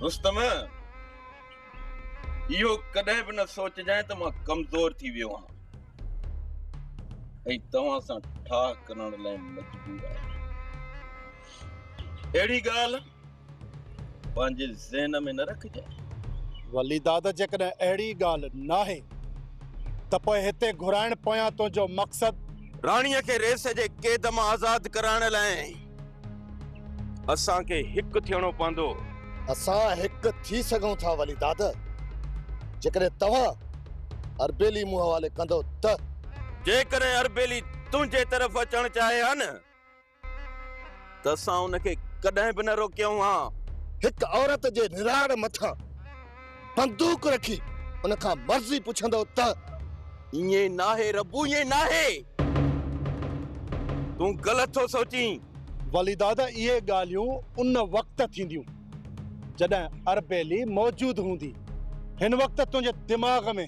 رستم! اهو ڪڏهن به نه سوچجانء ته مان ڪمزور ٿي ويو آهيان ۽ توهان سان ٺاهه ڪرڻ لاء مجبور آهيان. اهڙي ڳالهه پنهنجي ذهن ۾ نه رکجانء. ولي دادا جيڪڏهن اهڙي ڳالهه ناهي ته پوء هتي گهرائڻ پويان تنهنجو مقصد. راڻيء کي ريس جي قيد مان آزاد ڪرائڻ لاء اسان کي هڪ ٿيڻو پوندو. اسان هڪ ٿي سگهون ٿا ولي دادا جيڪڏهن توهان اربيلي مون حوالي ڪندو ته. جيڪڏهن اربيلي تنهنجي طرف اچڻ چاهي ها نه. ته اسان ان کي ڪڏهن به نه روڪيون ها. هڪ عورت جي نراڙ مٿان بندوق رکي ان کان مرضي پڇندؤ ته. ائين ناهي ربو ائين ناهي. تون غلط ٿو سوچين. ولي دادا اهي ڳالهيون ان وقت ٿينديون جڏهن اربيلي موجود هوندي. هن وقت تنهنجي دماغ ۾.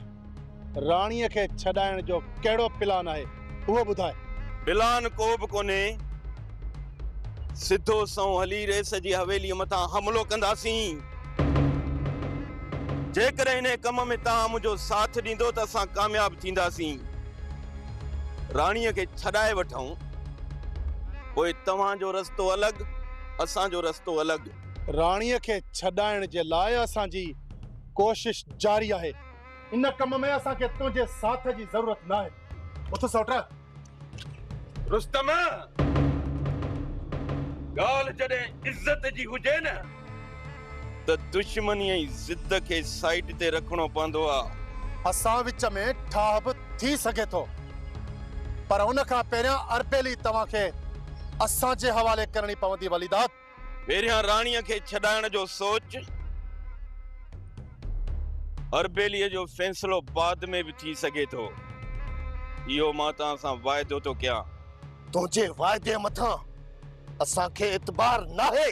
راڻيء کي ڇڏائڻ جو ڪهڙو پلان آهي اهو ٻڌاء. پلان ڪو به ڪونهي. سڌو سنئون هلي ريس جي حويليء مٿان حملو ڪنداسين. جيڪڏهن انهيء ڪم ۾ توهان منهنجو ساٿ ڏيندو ته اسان ڪامياب ٿينداسين. راڻيء کي ڇڏائي وٺون. پوء توهان جو رستو الڳ، اسان جو رستو الڳ. راڻيء کي ڇڏائڻ جي لاء اسان جي ڪوشش جاري آهي. ان ڪم ۾ اسان کي تنهنجي ساٿ جي ضرورت ناهي اٿ سوٽ رستم ڳالهه جڏهن عزت جي هجي نه ته دشمني ۽ ضد کي سائيٽ تي رکڻو پوندو آهي اسان وچ ۾ ٺاهه به ٿي سگهي ٿو پر ان کان پهريان اربيلي توهان کي اسان جي حوالي ڪرڻي پوندي وليداد پهريان راڻيء کي ڇڏائڻ جو سوچ اربيليء جو فيصلو بعد ۾ به ٿي سگهي ٿو. اهو مان توهان سان واعدو ٿو ڪيان. تنهنجي واعدي مٿان اسان کي اعتبار ناهي.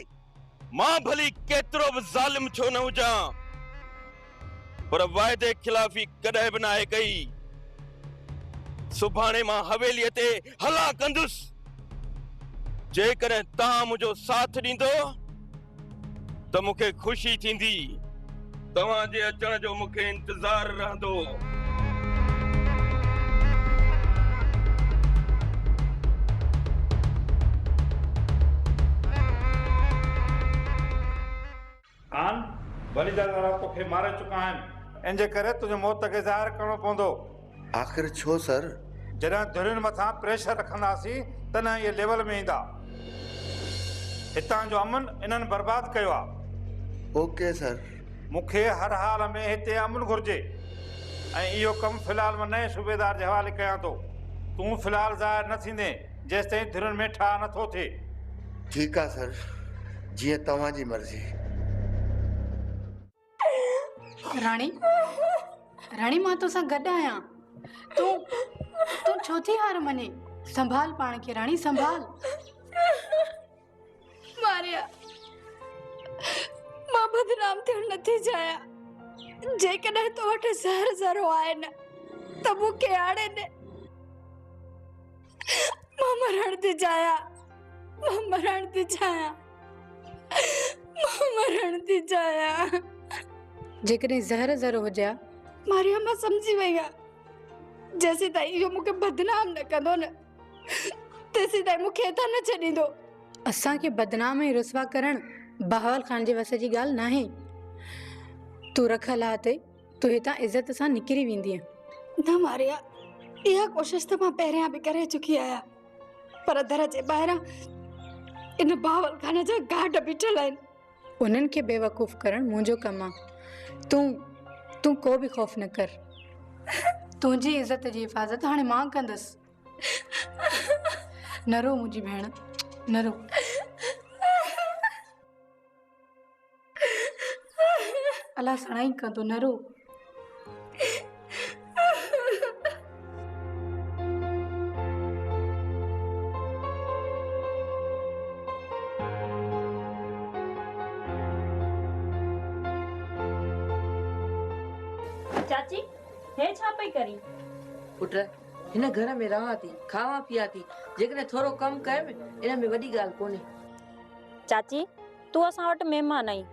مان ڀلي ڪيترو به ظالم ڇو نه هجان. پر واعدي خلافي ڪڏهن به ناهي ڪئي. سڀاڻي مان حويليء تي هلان ڪندس. جيڪڏهن توهان منهنجو ساٿ ڏيندو ته مون کي خوشي ٿيندي. توهان جي اچڻ جو مون کي انتظار رهندو. آن ڀلي جا ڌارا توکي ماري چڪا آهن. ان جي ڪري تنهنجي موت کي ظاهر ڪرڻو پوندو. آخر ڇو سر؟ جڏهن ڌرين مٿان پريشر رکنداسين تڏهن اهي ليول ۾ ايندا. هتان جو امن انهن برباد ڪيو آ. Okay sir. مون کي هر حال ۾ هتي امن گهرجي ۽ اهو ڪم في الحال مان نئين صوبيدار جي حوالي ڪيان ٿو. تون في الحال ظاهر نه ٿيندين. جيستائين ڌرين ۾ ٺاهه نه ٿو ٿئي. ٺيڪ آ سر جيئن توهان جي مرضي. راڻي راڻي مان توسان گڏ آهيان تون تون ڇو ٿي هار مڃين سنڀال پاڻ کي راڻي سنڀال. ماريا مان بدنام ٿيڻ نٿي چاهيان جيڪڏهن تو وٽ زهر ذرو آهي نه ته مون کي آڻي ڏي مان مرڻ ٿي چاهيان مان مرڻ ٿي چاهيان مان مرڻ ٿي چاهيان جيڪڏهن زهر ذرو هجي ماريا مان سمجهي وئي آهيان جيسين تائين اهو مون کي بدنام نه ڪندو نه تيسين تائين مون کي هتان نه ڇڏيندو. اسان کي بدنام ۽ رسوا ڪرڻ بهاول خان جي وس جي ڳالهه ناهي. تون رک الله تي تون هتان عزت سان نڪري ويندينء. نه ماريا، اها ڪوشش ته مان پهريان به ڪري چڪي آهيان، پر در جي ٻاهران ان بهاول خان جا گارڊ بيٺل آهن. انهن کي بيوقوف ڪرڻ منهنجو ڪم آ. تون تون ڪو به خوف نه ڪر. تنهنجي عزت جي حفاظت هاڻي مان ڪندس. نه رو منهنجي ڀيڻ نه رو. الله سڻائي ڪندو نه رو. چاچي هي ڇا پئي ڪرين. پٽ هن گهر ۾ رهان ٿي کاوان پيان ٿي جيڪڏهن ٿورو ڪم ڪيم ان ۾ وڏي ڳالهه ڪونهي. چاچي تون اسان وٽ مهمان آهين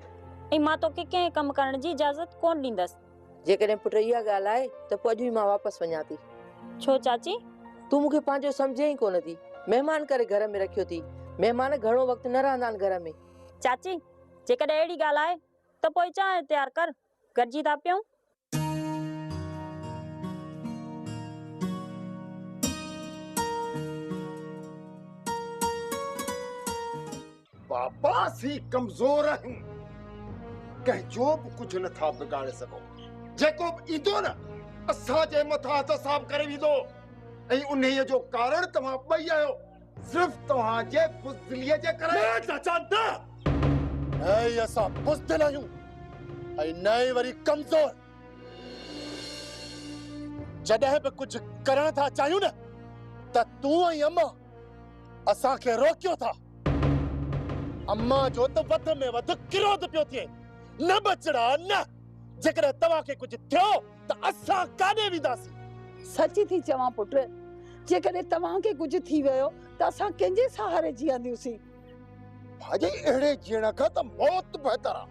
۽ مان توکي ڪنهن ڪم ڪرڻ جي اجازت ڪونه ڏيندس. جيڪڏهن پٽ اها ڳالهه آهي ته پوء اڄ ئي مان واپس وڃان ٿي. ڇو چاچي؟ تون مون کي پنهنجو سمجهين ئي ڪونه ٿي. مهمان ڪري گهر ۾ رکيو ٿي. مهمان گهڻو وقت نه رهندا آهن گهر ۾. چاچي! جيڪڏهن اهڙي ڳالهه آهي ته پوء چانهه تيار ڪر. گڏجي ٿا پيون. بابا سي ڪمزور آهن ڪنهن جو به ڪجهه نه ٿا بگاڙي سگهو جيڪو به ايندو نه اسان جي مٿان حساب ڪري ويندو ۽ انهيء جو ڪارڻ توهان ٻئي آهيو صرف توهان جي بزدليء جي ڪري. نه چاچا نه! نه ئي اسان بزدل آهيون ۽ نه ئي وري ڪمزور. جڏهن به ڪجهه ڪرڻ ٿا چاهيون نه ته تون ۽ امان اسان کي روڪيو ٿا. امان جو ته وڌ ۾ وڌ ڪروڌ پيو ٿئي. نه ٻچڙا نه! جيڪڏهن توهان کي ڪجهه ٿيو. ته اسان ڪاڏي وينداسين؟ سچ ٿي چوان پٽ، جيڪڏهن توهان کي ڪجهه ٿي ويو ته اسان ڪنهن جي سهاري جيئنديونسين؟ ڀاڄي اهڙي جيئڻ کان ته موت بهتر آ.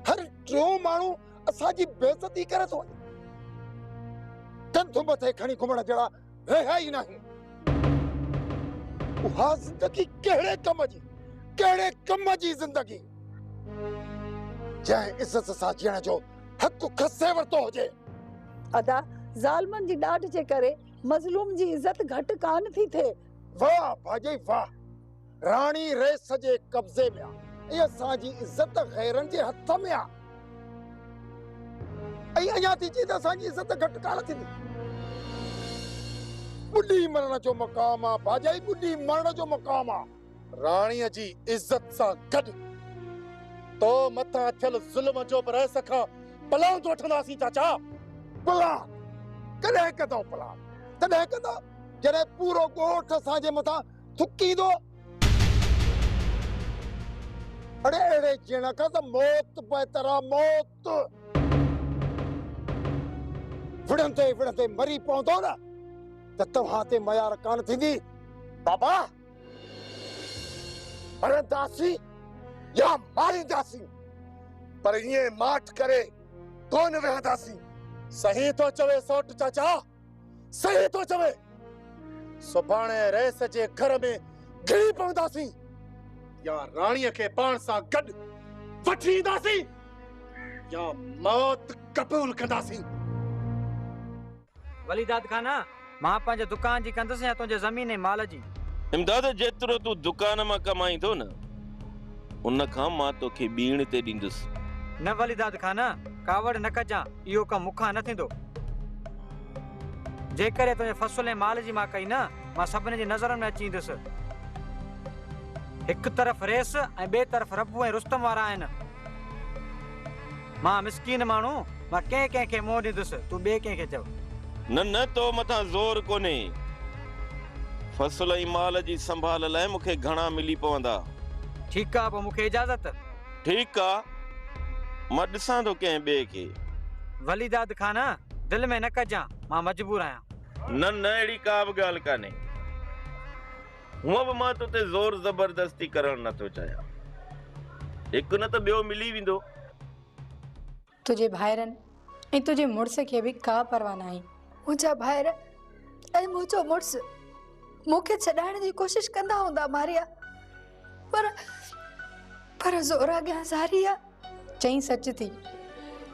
هر ٽيون ماڻهو اسان جي بيعزتي ڪري ٿو وڃي. ڪنڌ مٿي کڻي گهمڻ جهڙا رهيا ئي ناهي. اها زندگي ڪهڙي ڪم جي، ڪهڙي ڪم جي زندگي، جنهن عزت سان جيئڻ جو حق کسي ورتو هجي. ادا ظالمن جي ڏاڍ جي ڪري مظلوم جي عزت گهٽ ڪانه ٿي ٿئي. واھ ڀاڄي واھ. راڻي رئيس جي قبضي ۾ آ ۽ اسان جي عزت غيرن جي هٿ ۾ آ ۽ اڃا ٿي چئين ته اسان جي عزت گهٽ ڪانه ٿيندي. ٻڏي مرڻ جو مقام آ ڀاڄائي ٻڏي مرڻ جو مقام آ. راڻي جي عزت سان گڏ تو مٿان ٿيل ظلم جو به رئيس کان پلاند وٺنداسين چاچا. پلاند! ڪڏهن ڪندؤ پلاند؟ تڏهن ڪندؤ جڏهن پورو ڳوٺ اسان جي مٿان ٿڪيندو. اڙي اهڙي جيڻ کان ته موت بهتر آ موت. وڙهندي وڙهندي مري پوندو نه ته توهان تي ميار ڪانه ٿيندي بابا. مرنداسين يا مارينداسين پر ائين ماٺ ڪري ڪونه ويهنداسين. صحيح ٿو چوي سوٽ چاچا. صحيح ٿو چوي. سڀاڻي رئيس جي گهر ۾ گهڙي پونداسين يا راڻيء کي پاڻ سان گڏ وٺي اينداسين يا موت قبول ڪنداسين. ولي داد خان، مان پنهنجي دڪان جي ڪندس يا تنهنجي زمين ۽ مال جي؟ امداد، جيترو تون دڪان مان ڪمائين ٿو نه. ان کان مان توکي ٻيڻ تي ڏيندس. نه وليداد خانه! ڪاوڙ نه ڪجان، اهو ڪم مون کان نه ٿيندو. جيڪڏهن تنهنجي فصل ۽ مال جي مان ڪئي نه، مان سڀني جي نظرن ۾ اچي ايندس. هڪ طرف ريس ۽ ٻئي طرف ربو ۽ رستم وارا آهن. مان مسڪين ماڻهو، مان ڪنهن ڪنهن کي منهن ڏيندس، تون ٻئي ڪنهن کي چئو. نه نه تو مٿان زور ڪونهي. فصل ۽ مال جي سنڀال لاء مون کي گهڻا ملي پوندا. ٺيڪ آ، پوء مون کي اجازت. ٺيڪ آ، مان ڏسان ٿو ڪنهن ٻئي کي. وليداد خان، دل ۾ نه ڪجان، مان مجبور آهيان. نه نه اهڙي ڪا به ڳالهه ڪانهي. هونء به مان تو تي زور زبردستي ڪرڻ نه ٿو چاهيان. هڪ نه ته ٻيو ملي ويندو. تنهنجي ڀائرن ۽ تنهنجي مڙس کي به ڪا پرواهه ناهي. منهنجا ڀائر ۽ منهنجو مڙس مون کي ڇڏائڻ جي ڪوشش ڪندا هوندا ماريا، پر پر زور اڳيان زاري آ. چئين سچ ٿي.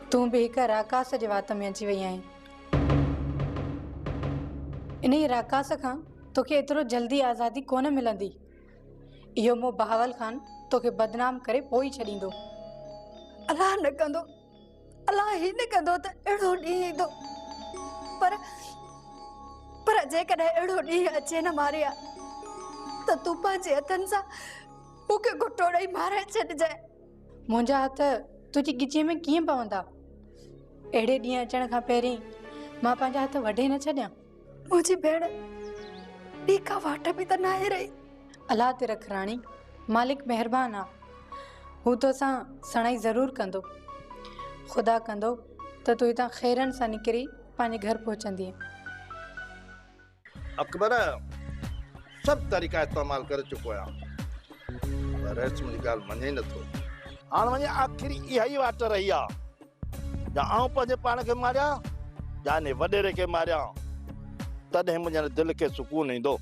تون به هڪ راڪاس جي وات ۾ اچي وئي آهين. انهيء راڪاس کان توکي ايترو جلدي آزادي ڪونه ملندي. اهو مون بهاول خان توکي بدنام ڪري پوء ئي ڇڏيندو. الله نه ڪندو، الله هي نه ڪندو ته اهڙو ڏينهن ايندو. پر، پر جيڪڏهن اهڙو ڏينهن اچي نه ماريا، ته تون پنهنجي هٿن سان مون کي گهٽو ڏئي مارائي ڇڏجانء. منهنجا هٿ تنهنجي ڳچيء ۾ ڪيئن پوندا؟ اهڙي ڏينهن اچڻ کان پهرين مان پنهنجا هٿ وڍي نه ڇڏيان. منهنجي ڀيڻ، ٻي ڪا واٽ به ته ناهي رهي. الله تي رک راڻي، مالڪ مهربان آ. هو توسان سڻائي ضرور ڪندو. خدا ڪندو ته تون هتان خيرن سان نڪري پنهنجي گهر پهچندينء. اڪبر، سڀ طريقا استعمال ڪري چڪو آهيان، پر رئيس منهنجي ڳالهه مڃي ئي نٿو. هاڻ وڃي آخري اها ئي واٽ رهي آ، يا آئون پنهنجي پاڻ کي ماريان، يا انهيء وڏيري کي ماريان، تڏهن منهنجي هن دل کي سڪون ايندو.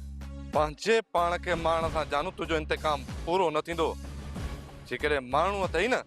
پنهنجي پاڻ کي مارڻ سان جانو تنهنجو انتقام پورو نه ٿيندو، جيڪڏهن مارڻو اٿئي نه،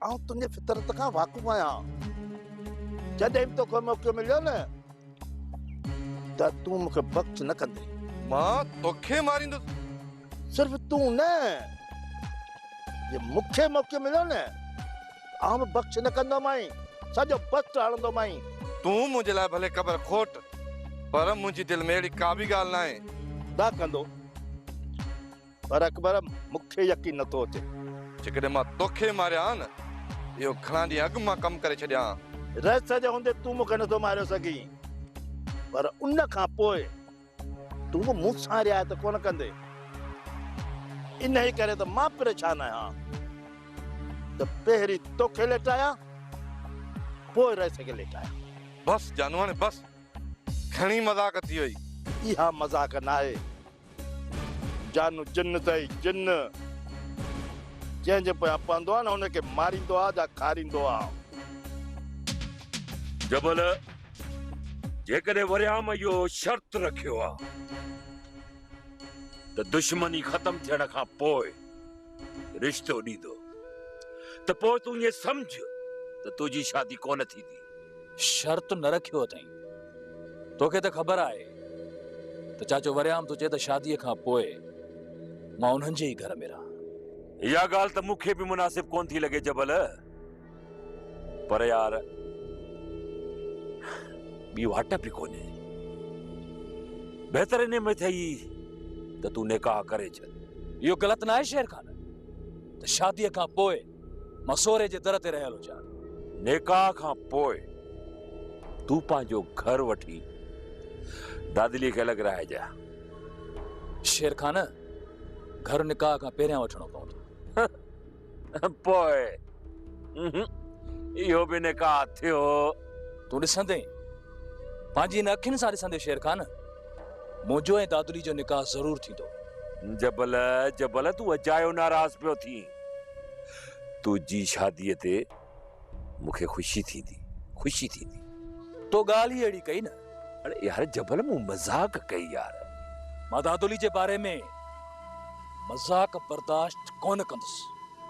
آئون تنهنجي فطرت کان واقف آهيان جڏهن به توکي موقعو مليو نه ته تون مون کي بخش نه ڪندي مان توکي ماريندس صرف تون نه جي مون کي موقعو مليو نه آئون به بخش نه ڪندومانء سڄو بخت هڻندومانء تون منهنجي لاء ڀلي قبر کوٽ پر منهنجي دل ۾ اهڙي ڪا به ڳالهه ناهي نه ڪندو پر اڪبر، مون کي يقين نه ٿو اچي. جيڪڏهن مان توکي ماريان ها نه، اهو گهڻا ڏينهن اڳ مان ڪم ڪري ڇڏيان ها. رئيس جي هوندي تون مون کي نه ٿو ماريو سگهين، پر ان کان پوء تون مون سان رعايت ڪونه ڪندين. انهيء ڪري ته مان پريشان آهيان ته پهرين توکي ليٽايان، پوء رئيس کي ليٽايان. بس جانوڻي بس، گهڻي مذاق ٿي وئي. اها مذاق ناهي، جان جن تئي جن، جنهن جي پويان پوندو آ نه ان کي ماريندو آ جا کاريندو آ. جبل، جيڪڏهن ورهيام اهو شرط رکيو آ ته دشمني ختم ٿيڻ کان پوء رشتو ڏيندو ته پوء تون ائين سمجهه ته تنهنجي شادي ڪونه ٿيندي. شرط نه رکيو اٿئين. توکي ته خبر آهي ته چاچو وريام ٿو چئي ته شاديء کان پوء مان انهن جي ئي گهر ۾ رهان. اها ڳالهه ته مون کي به مناسب ڪونه ٿي لڳي جبل، پر يار ٻي واٽ به ڪونهي. بهتر انهيء ۾ ٿئي ته تون نڪاح ڪري ڇڏ. اهو غلط ناهي شير خان ته شاديء کان پوء مصوري جي در تي رهيل هجان. نڪاح کان پوء تون پنهنجو گهر وٺي دادليء کي الڳ رهائجاء. شير خان، گهر نڪاح کان پهريان وٺڻو پوندو. پوء اهو به نڪاح ٿيو. تون ڏسندين، پنهنجين اکين سان ڏسندين شير خان، منهنجو ۽ دادليء جو نڪاح ضرور ٿيندو. جبل، جبل تون اجايو ناراض پيو ٿين. تنهنجي شاديء تي مون کي خوشي ٿيندي، خوشي ٿيندي. تو ڳالهه ئي اهڙي ڪئي نه. اڙي يار جبل مون مذاق ڪئي يار. مان دادولي جي باري ۾ مذاق برداشت ڪونه ڪندس.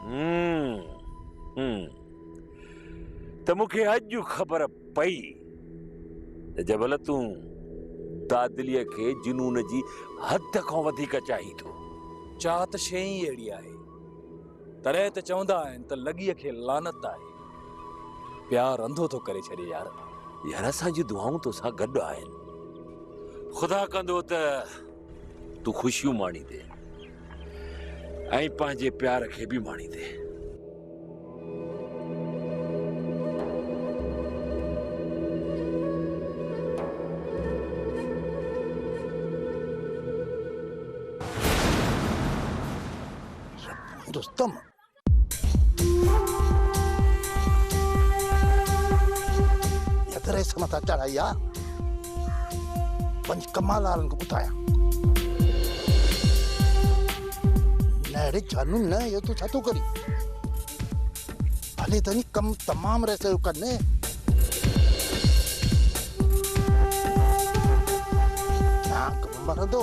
همم همم ته مون کي اڄ خبر پئي ته جبل تون دادليء کي جنون جي حد کان وڌيڪ چاهين ٿو. چاهت شيء ئي اهڙي آهي. تڏهن ته چوندا آهن ته لڳيء کي لعنت آهي. پيار انڌو ٿو ڪري ڇڏي يار. يار اسان جون دعائون توسان گڏ آهن. خدا ڪندو ته. تون خوشيون ماڻيندي ۽ پنهنجي پيار کي به ماڻيندي رستم دريس مٿان چڙهائي آ وڃ ڪمال وارن کي ٻڌايان نهڙي جانو نه اهو تون ڇا ٿو ڪرين هلي ته ڪم تمام رس جو ڪن مرندو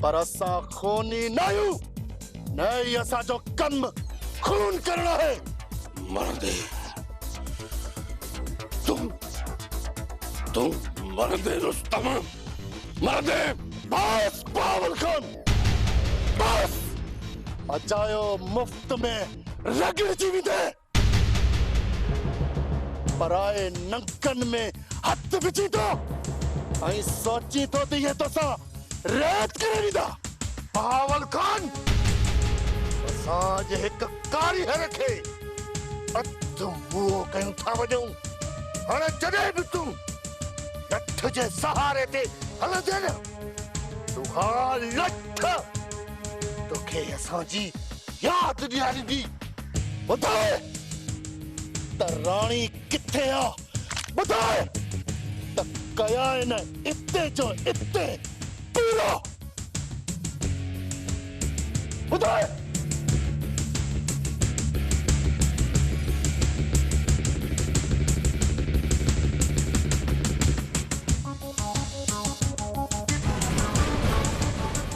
پر اسان خوني ناهيون، نه ئي اسان جو ڪم خون ڪرڻ آهي. مرندي تون تون مرندي رستم مرندي. بس بهاول خان بس. اجايو مفت ۾ رڳڙجي ويندين. پرائي ننڪن ۾ هٿ وجهين ٿو ۽ سوچين ٿو ته اهي توسان رعايت ڪري ويندا. بهاول خان اسان اڄ هڪ ڪاريهر کي اڌ موهه ڪيون ٿا وڃون. هاڻ جڏهن به تون لٺ جي سهاري تي هلندين، تون اها لٺ. توکي اسان جي ياد ڏياريندي ٻڌاء ته راڻي ڪٿي آ ٻڌاء ته ڪيائين اتي جو اتي پورو ٻڌاء.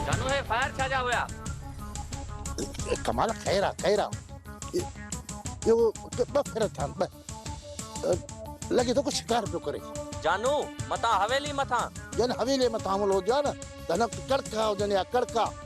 ڌنو هي فائر ڇا جا هيا. ڪمال خير آ خير آ اهو ٻه ڦيرا ٿيا آهن ٻه لڳي ٿو ڪو شڪار پيو ڪري. جانو متان حويلي مٿان. جن حويلي مٿان حملو هجيو آ نه ته هن وقت ڪڙڪا هجن يا ڪڙڪا.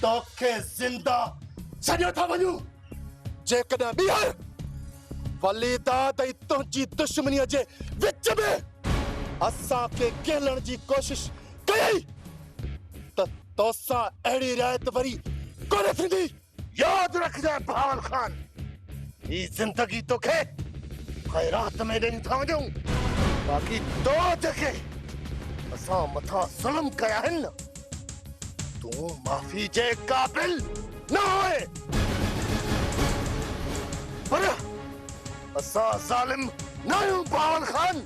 توکي زنده ڇڏيو ٿا وڃون. جيڪڏهن ٻيهر وليداد ۽ تنهنجي دشمنيء جي وچ ۾ اسان کي ڪهلڻ جي ڪوشش ڪيئي ته توسان اهڙي رعايت وري ڪونه ٿيندي. ياد رکجانء بهاول خان، هي زندگي توکي خيرات ۾ ڏئي ٿا وڃون، باقي تو جيڪي اسان مٿان ظلم ڪيا آهن نه، تون معافي جي قابل نه آهي پر اسان ظالم نه آهيون بهاول خان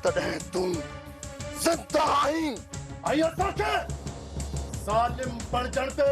تڏهن تون زنده آهين ۽ اسان کي ظالم بڻجڻ تي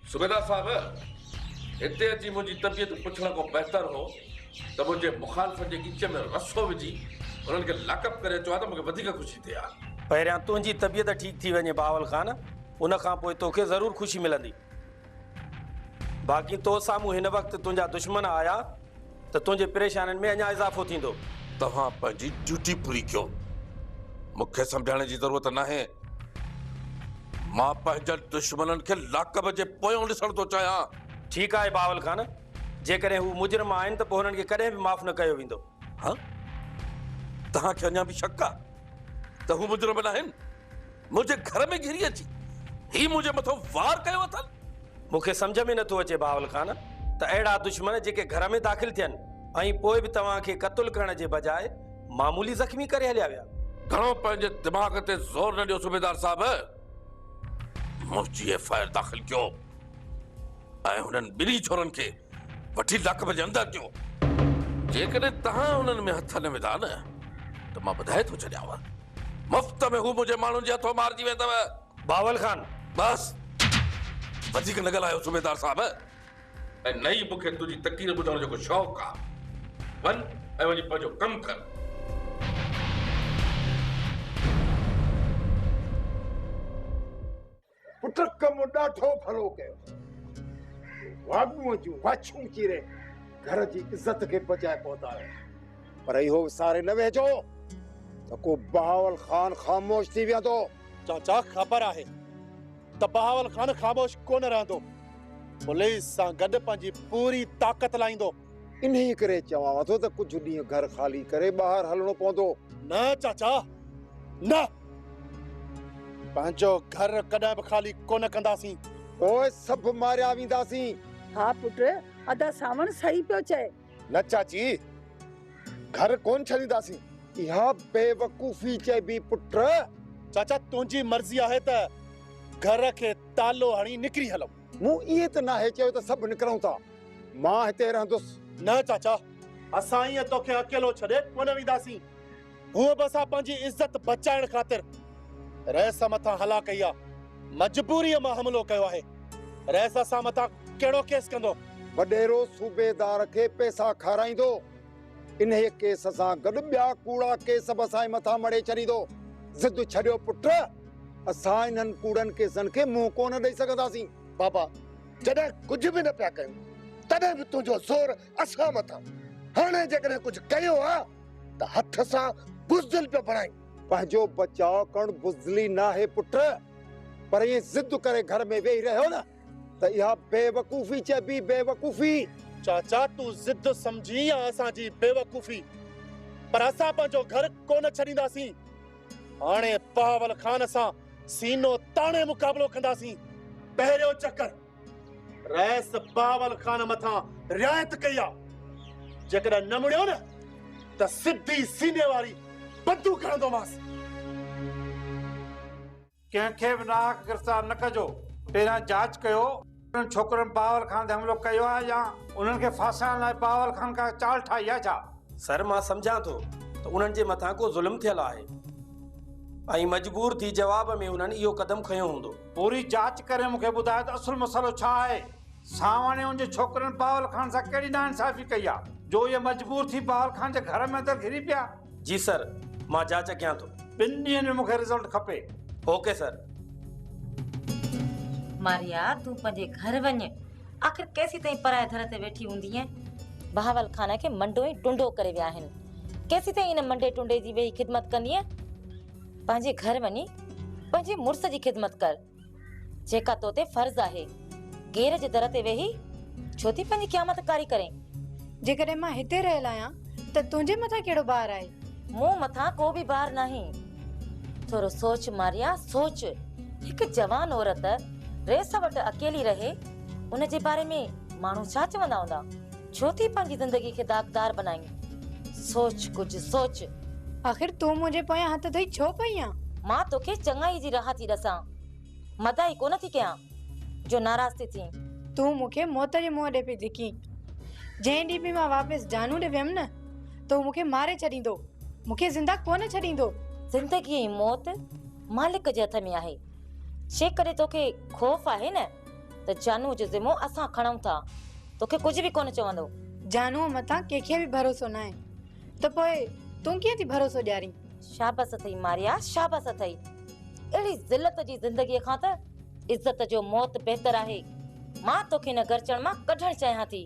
صوبيدار صاحب! هتي اچي منهنجي طبيعت پڇڻ کان بهتر هو ته منهنجي مخالفن جي ڳچ ۾ رسو وجهي انهن کي لاڪ اپ ڪري اچو ها ته مون کي وڌيڪ خوشي ٿئي ها. پهريان تنهنجي طبيعت ٺيڪ ٿي وڃي بهاول خان، ان کان پوء توکي ضرور خوشي ملندي. باقي تو سامهون هن وقت تنهنجا دشمن آيا. ته تنهنجي پريشانين ۾ اڃا اضافو ٿيندو. توهان پنهنجي ڊيوٽي پوري ڪيو. مون کي سمجهائڻ جي ضرورت ناهي. مان پنهنجن دشمنن کي لاڪب جي پويان ڏسڻ ٿو چاهيان. ٺيڪ آهي بهاول خان. جيڪڏهن هو مجرم آهن ته پوء هنن کي ڪڏهن به معاف نه ڪيو ويندو. ها؟ توهان کي اڃا به شڪ آهي ته هو مجرم ناهن؟ منهنجي گهر ۾ گهري اچي هي منهنجي مٿو وار ڪيو اٿن؟ مون کي سمجهه ۾ نٿو اچي بهاول خان ته اهڙا دشمن جيڪي گهر ۾ داخل ٿين ۽ پوء به توهان کي قتل ڪرڻ جي بجاء معمولي زخمي ڪري هليا ويا. گهڻو پنهنجي دماغ تي زور نه ڏيو صوبيدار صاحب، منهنجي ايف آء آر داخل ڪيو ۽ هنن ٻنهي ڇورن کي وٺي لاڪپ جي اندر ڏيو. جيڪڏهن توهان انهن ۾ هٿ نه وڌا نه ته مان ٻڌائي ٿو ڇڏيانو. مفت ۾ هو منهنجي ماڻهن جي هٿون مارجي ويندو. بهاول خان! بس! وڌيڪ نه ڳالهايو صوبيدار صاحب! ۽ نه ئي مون کي تنهنجي تقرير ٻڌڻ جو ڪو شوق آ. وڃ ۽ وڃي پنهنجو ڪم ڪر. پٽ ڪم ڏاڍو ڀلو ڪيو اٿئي. واڳونء جون واڇون چيري گهر جي عزت کي بچائي پهتايو. پر اهو وساري نه ويهجو ته ڪو بهاول خان خاموش ٿي ويهندو. چاچا خبر آهي ته بهاول خان خاموش ڪونه رهندو. پوليس سان گڏ پنهنجي پوري طاقت لائيندو. انهيء ڪري چوانء ٿو ته ڪجهه ڏينهن گهر خالي ڪري ٻاهر هلڻو پوندو. نه چاچا، نه! پنهنجو گهر ڪڏهن به خالي ڪونه ڪنداسين. پوء سڀ ماريا وينداسين. ها پٽ، ادا سانوڻ صحيح پيو چئي. نه چاچي، گهر ڪونه ڇڏينداسين. اها بيوقوفي چئبي پٽ. چاچا، تنهنجي مرضي آهي ته گهر کي تالو هڻي نڪري هلون. مون ائين ته ناهي چيو ته سڀ نڪرون ٿا. مان هتي رهندس. نه چاچا، اسان ائين توکي اڪيلو ڇڏي ڪونه وينداسين. هونء به اسان پنهنجي عزت بچائڻ خاطر رئيس مٿان هلا ڪئي آ. مجبوريء مان حملو ڪيو آهي. رئيس اسان مٿان ڪهڙو ڪيس ڪندو؟ وڏيرو صوبيدار کي پئسا کارائيندو. انهيء ڪيس سان گڏ ٻيا ڪوڙا ڪيس به اسان جي مٿان مڙهي ڇڏيندو. ضد ڇڏيو پٽ، اسان انهن ڪوڙن ڪيسن کي منهن ڪو نه ڏئي سگهنداسين. بابا، جڏهن ڪجهه به نه پيا ڪيون، تڏهن به تنهنجو زور اسان مٿان. هاڻي جيڪڏهن ڪجهه ڪيو ها ته هٿ سان بزدل پيو بڻائين. پنهنجو بچاء ڪرڻ بزدلي ناهي پٽ، پر ائين ضد ڪري گهر ۾ ويهي رهيو نه، ته اها بيوقوفي چئبي، بيوقوفي. چاچا تون ضد سمجهين يا اسان جي بيوقوفي پر اسان پنهنجو گهر ڪونه ڇڏينداسين. هاڻي بهاول خان سان سينو تاڻي مقابلو ڪنداسين. پهريون چڪر رئيس بهاول خان مٿان رعايت ڪئي آ، جيڪڏهن نه مڙيو نه ته سڌي سيني واري بندوق هڻندومانس. ڪنهن کي به ناحق گرفتار نه ڪجو، پهريان جاچ ڪيو. انهن ڇوڪرن بهاول خان تي حملو ڪيو آهي يا؟ انهن کي ڦاسائڻ لاء بهاول خان ڪا چال ٺاهي آهي ڇا؟ سر مان سمجهان ٿو ته انهن جي مٿان ڪو ظلم ٿيل آهي ۽ مجبور ٿي جواب ۾ انهن اهو قدم کنيو هوندو. پوري جاچ ڪري مون کي ٻڌاء ته اصل مسئلو ڇا آهي؟ سانوڻي ان جي ڇوڪرن بهاول خان سان ڪهڙي ناانصافي ڪئي آهي جو اهي مجبور ٿي بهاول خان جي گهر ۾ اندر گهري پيا؟ جي سر مان جاچ ڪيان ٿو. ٻن ڏينهن ۾ مون کي رزلٽ کپي. Okay sir. ماريا تون پنهنجي گهر وڃ آخر ڪيسيتائين پرائي در تي ويٺي هوندينء. بهاول خان کي منڊو ۽ ٽنڊو ڪري ويا آهن. ڪيسيتائين ان منڊي ٽنڊي جي ويهي خدمت ڪندينء. پنهنجي گهر وڃي پنهنجي مڙس جي خدمت ڪر. جيڪا تو تي فرض آهي. غير جي در تي ويهي ڇو ٿي پنهنجي قيامت ڪاري ڪرين؟ جيڪڏهن مان هتي رهيل آهيان ته تنهنجي مٿان ڪهڙو بار آهي؟ مون مٿان ڪو به بار ناهي. ٿورو سوچ ماريا، سوچ. هڪ جوان عورت ريس وٽ اڪيلي رهي، ان جي باري ۾ ماڻهو ڇا چوندا هوندا؟ ڇو ٿي پنهنجي زندگي کي داغدار بنائين؟ سوچ ڪجهه سوچ. آخر تون منهنجي پويان هٿ ڌوئي ڇو پئي آن؟ مان توکي چڱائي جي راهه ٿي ڏسان. مداحي ڪونه ٿي ڪيان جو ناراض ٿي ٿين. تون مون کي موت جي منهن ڏي پئي ڌڪين. جنهن ڏينهن به مان واپس جانو ڏي ويم نه تو مون کي ماري ڇڏيندو. مون کي زنده ڪونه ڇڏيندو. زندگي ۽ موت مالڪ جي هٿ ۾ آهي. جيڪڏهن توکي خوف آهي نه. ته جانوء جو ذمو اسان کڻون ٿا، توکي ڪجهه به ڪونه چوندو. جانوء مٿان ڪنهن کي به ڀروسو ناهي ته پوء تون ڪيئن ٿي ڀروسو ڏيارين؟ شابس اٿئي ماريا، شابس اٿئي. اهڙي ذلت جي زندگيء کان ته عزت جو موت بهتر آهي. مان توکي هن گرچڻ مان ڪڍڻ چاهيان ٿي.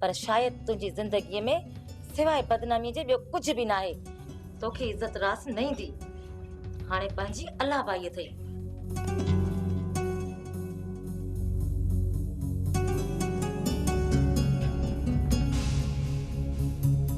پر شايد تنهنجي زندگيء ۾ سواء بدناميء جي ٻيو ڪجهه به ناهي. توکي عزت راس نه ايندي. هاڻي پنهنجي الله بائيء اٿئي.